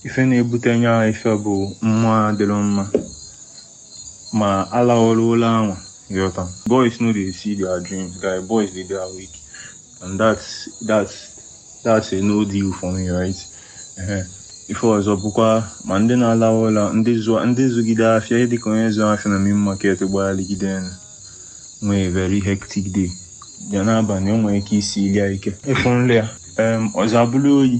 ife na-ebute nya ife bụ mmụọ adịrọ mma ma alarọ ụla anwa ịghọta boys no dey see their dreams guy boys dey dey awake and that's that's that's a no deal for me right Ehe. ife ọzọ bụkwa ma ndị na-alawa ụla ndị zụọ ndị zụgide afịa dịka onye zụọ afịa na main market gbagharịgide enu nwee very hectic day bịa n'abalị o nwere ike isili ya ike ịfụ nlọ ya em ọzọ abụrụ oyi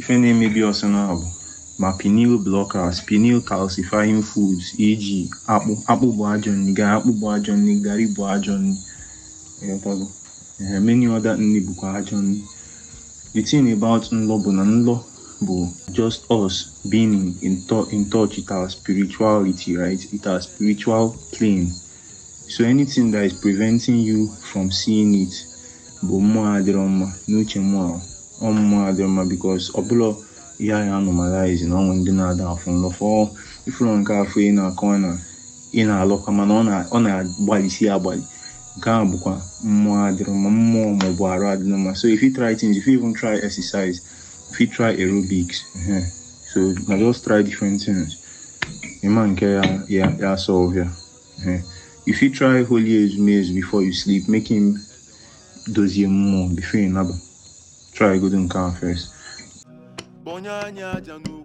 Ife na-emebi ọ sị na ọ bụ ma pineal blockers, pineal calcifying foods, e.g. akpụ. Akpụ bụ ajọ nri, gari akpụ bụ ajọ nri, gari bụ ajọ nri. Ịghọtago? Ehe, many other nri bụkwa ajọ nri. The thing about nlọ bụ na nlọ bụ just us being in, in, tou- in touch with our spirituality, right? With our spiritual plane. So anything that is preventing you from seeing it, bụ mmụọ adịrọ mma n'uche mụwa ọ mmụọ adịrọ mma because ọ bụrọ ihe anyị ya-normalize na o nwe ndị na-ada afụ nlọ fọọ ị fụlụ nke afụ ị na-akọ na ị na-alọkwa mana ọ na-agbalụsị agbalụ nke ahụ bụkwa mmụọ adịrọ mma mmụọ maọbụ arụ adịrọ mma so if you try things if you even try exercise if you try aerobics uh-huh. so na just try different things ịma nke ya ya ya solve ya Eh, you fit try holy ezumezu before you sleep make him dozie mmụọ before you naba try godo nke ahụ first Kponye nya aja n'ụkwụ